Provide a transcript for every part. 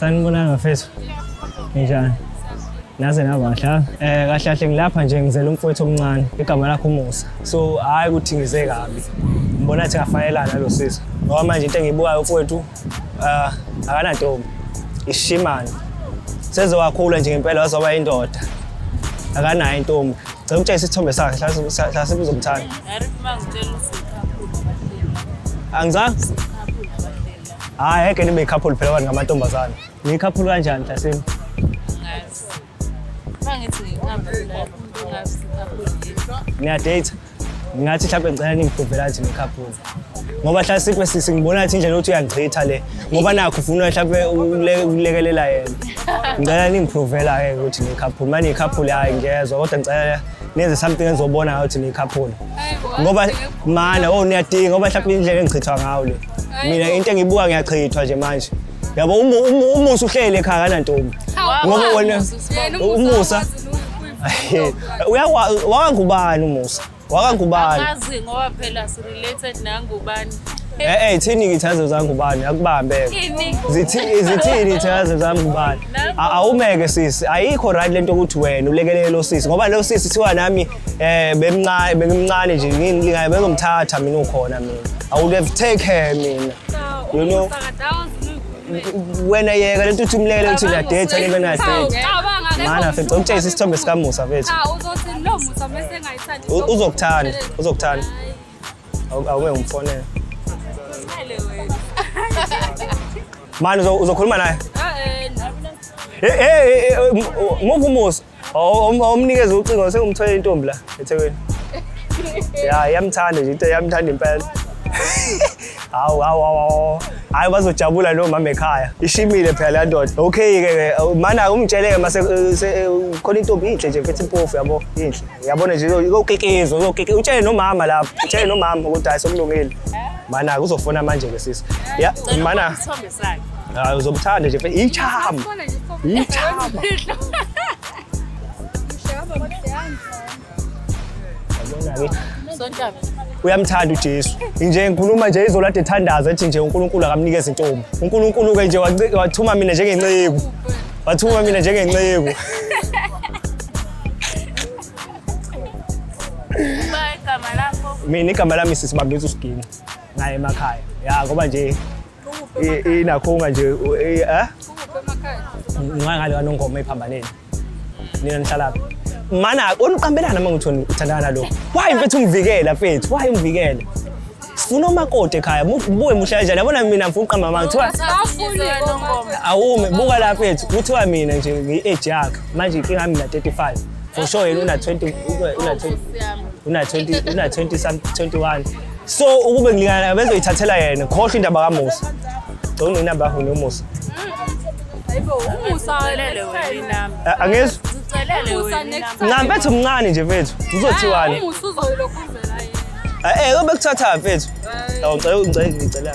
Sanibonani bafethu. Ninjani? Naze naba kahle. ha? Eh kahle kahle ngilapha nje ngizela umfowethu omncane igama lakhe uMusa. So hayi ukuthi ngize kabi. Ngibona ukuthi ngafanelana nalo sisi. Ngoba manje into engiyibukayo umfowethu ah akanantombi. Ishimana. Sezowakhula nje ngempela wazoba indoda. Akanayo intombi. Cela ukutshengisa isithombe sakhe hlase hlase uzomthanda. Angizange Hayi ngeke nibe couple phela abantu ngamantombazane. Ni couple kanjani Tasini? Ngazi. Bangithi ngihamba la umuntu ngazi couple yini. Niya date. Ngathi mhlawumbe ngicela ningiprovela nje couple. Ngoba hla sikwe sisi ngibona ukuthi indlela ukuthi uyangigcitha le. Ngoba nakho ufuna mhlawumbe ule- ulekelela yena. Ngicela ningiprovela ke ukuthi ni couple. Manje couple hayi ngiyezwa kodwa ngicela nenze something engizobona ngayo ukuthi ni couple. Hayi bo. Ngoba mana oh niyadinga ngoba mhlawumbe indlela engichithwa ngayo le. mina into engibuka ngiyachithwa nje manje yabo umu- umu- umusa uhleli ekhaya kanantombi ngoba wena umusa uyawa- wakangubani umusa wakangubani Angazi ngoba phela si related nangubani. Eh eh thini ngithazo zangubani akubambe. Ini Zithi zithini ithazo zangubani? A- Awumeke sisi, ayikho right lento ukuthi wena ulekelele lo sisi ngoba lo sisi thiwa nami Eh bemncane bengimncane nje ngini lingaye bengomthatha mina ukhona mina. I would have take her mina. You know wena yeka lento uthi umlele uthi la date le mina date. Mana fethu ukutshayisa isithombe sika Musa fethu. Cha uzothi no Musa mase engayithandi. Uzokuthanda uzokuthanda. Awume umfonele. Mani uzokhuluma naye? Eh eh. Hey hey move Musa. omnikeza ucingo sengumthole intombi la ethekwini ya yamthanda nje into yamthanda impela hawu hawu hawu hayi bazojabula lo mama ekhaya ishimile phela la ndoda okay ke mana umtshele-ke mase eh, eh, khona intombi inhle nje mfethu impofu yabo inhle yabona nje uzokekezwa uzokeke utshele nomama lapho utshele nomama ukuthi hayi sokulungile mana kuzofona manje-ke sisi ya mana sakhe. Hayi uzobuthanda nje mfethu. Ichama. Sifone nje stop. Ichama. Imfihlo. Mshaba mdlanga. Sontabi. uyamthanda uJesu nje ngikhuluma nje izolo ade thandaza ethi nje uNkulunkulu akamnikeza intombi uNkulunkulu ke nje waci- wathuma mina njengenceku wathuma mina njengenceku Uma igama lakho mina igama lami sisibambisa usiginci naye emakhaya ya ngoba nje inakhunga nje eh ngangale kanongoma ephambaneni nina nihlalaphi mana oniqambelana uma ngithoni uthandana lo why mfethu ungivikela mfethu why ungivikela sifuna umakoti ekhaya buye mushaya njani yabona mina mfuna uqamba manga kuthiwa awume buka la mfethu kuthiwa mina nje ngi-age yakhe manje inkinga yami na-35 for sure yena una-20 una-20 una-20 una-20 21 so ukube ngilingana naye bezoyithathela yena khohlwa indaba kamusa gcona inamba yakho nomusa angizwa ncam mfethu mncane nje mfethu uzothiwani um eh, eh, bekuthatha mfethu ngicela ngicela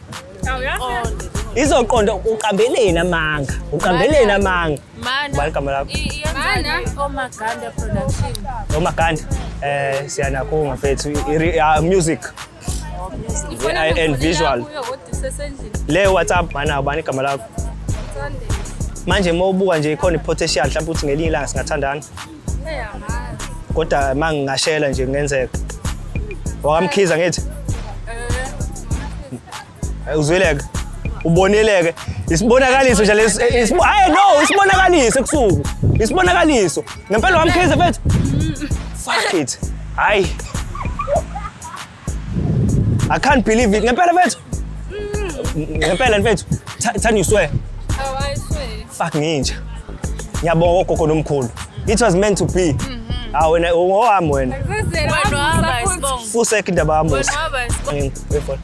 izoqonda uqambeleni amanga uqambeleni amanga bani igama lakho omaganda um siyanakho ngafethu music and visual le whatsapp mana bani igama lakho manje uma ubuka nje ikhona i-potential mhlawumbe ukuthi ngelinye ilanga singathandana kodwa uma ngingashela nje kungenzeka wakamkhiza ngithi eh, uzweleke uboneleke isibonakaliso nje lesi eh, isibo hayi no isibonakaliso ebusuku isibonakaliso ngempela wamkhiza mfethu fuck it hayi I can't believe it. Ngempela mfethu. Ngempela mfethu. Tha- Thani you swear. Oh, I swear. Fuck nginja. Ngiyabonga ogogo nomkhulu. It was meant to be. Ah wena ungowami wena. Wena wahamba isibongo. Fusek indaba yami. Wena wahamba isibongo. Ngifuna.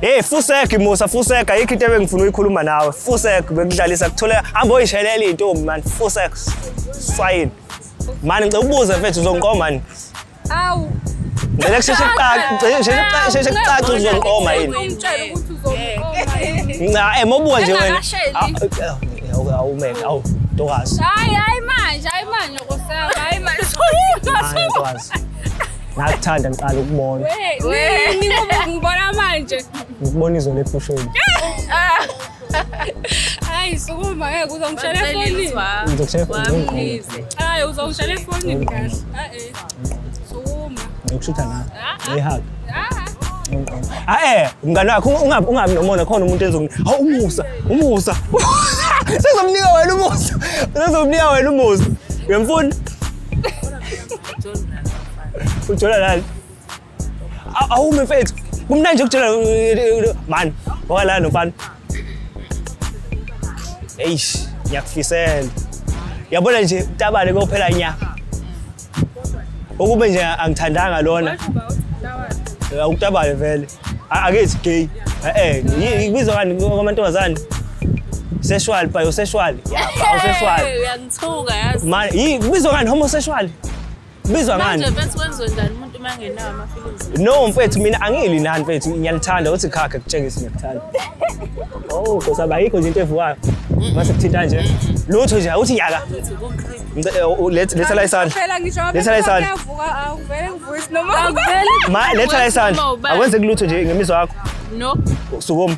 Hey fusek Musa fusek ayikho into ebengifuna uyikhuluma nawe fusek bekudlalisa kuthole hamba oyishelela intombi man fusek swayini mani ngicela ubuze mfethu uzongiqoma mani awu ngicela kusheshe kucace sheshe kucace uzongiqoma yini ungitshela ukuthi uzongiqoma yini nca eh mobuka nje wena Engakasheli. Ah, eh, eh, awu man awu ntokazi hayi hayi manje hayi manje kusaba hayi manje Hayi, ntokazi Ngakuthanda ngiqala ukubona. Wee, ni ngoba ngibona manje. Ngikubona izolo efushweni. Hayi, sukuma ngeke uzongishela efonini. Ngizokushaya efonini. Wamlize. Hayi, uzongishela efonini kahle. Ah eh. Sukuma. Ngikushutha la. Ngihaka. Ah. Ae, mngani wakho ungabi ungabi nomona khona umuntu ezong. Hawu umusa, umusa. Sizomnika wena umusa. Sizomnika wena umusa. Uyamfuna? ujola nani awume mfethu kumnandi nje ukujola eh, mani ngoba lana nomfana eish ngiyakufisela yabona nje utabane kophela nya ukube nje angithandanga lona awutabane vele akethi gay eh ngibizwa kani kwamantombazane sexual pa yo sexual ya pa yo sexual Thuka yazi. Ma, yi kubizwa ngani homosexual? Kubizwa ngani? Manje mfethu wenziwe njani umuntu uma engenawo ama feelings? No mfethu mina angili nani mfethu ngiyalithanda uthi khakhe kutshengisa ngiyakthanda. Oh, Nkosi yami, ayikho nje into evukayo. Mase kuthinta nje. Lutho nje uthi yaka. Mfethu kukhri. Ngicela, eh, u- let- Letha la isandla. Phela ngisho ngabe Letha la kuthiwa isandla. kuyavuka awuvele ngivuke isinoma. Akuveli. Ma, letha la isandla. Uma ubani. Akwenzeki lutho nje ngemizwa yakho. No. Sukuma.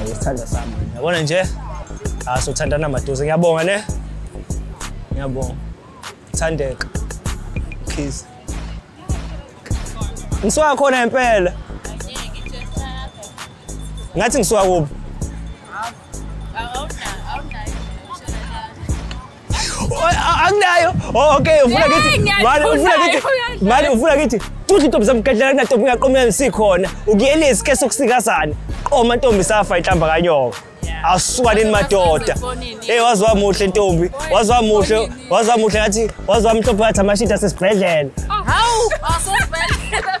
Ayisithanda sami. Yabona nje? Aso thandana maduze. Ngiyabonga ne. Ngiyabonga. Thandeka. Kiss. Ngisuka khona impela. Ngathi ngisuka kuphi? akunayo oh, okay ufuna kithi mali ufuna kithi mali ufuna kithi futhi intombi zamgadlela kunantombi ingaqomela sikhona ukuyelezi ke sokusikazana qoma ntombi safa inhlamba kanyoka awusukanini madoda eyi waze wamuhle ntombi waze wamuhle waze wamuhle ngathi waze wamhlophe ngathi amashidi asesibhedlela hawu asesibhedlela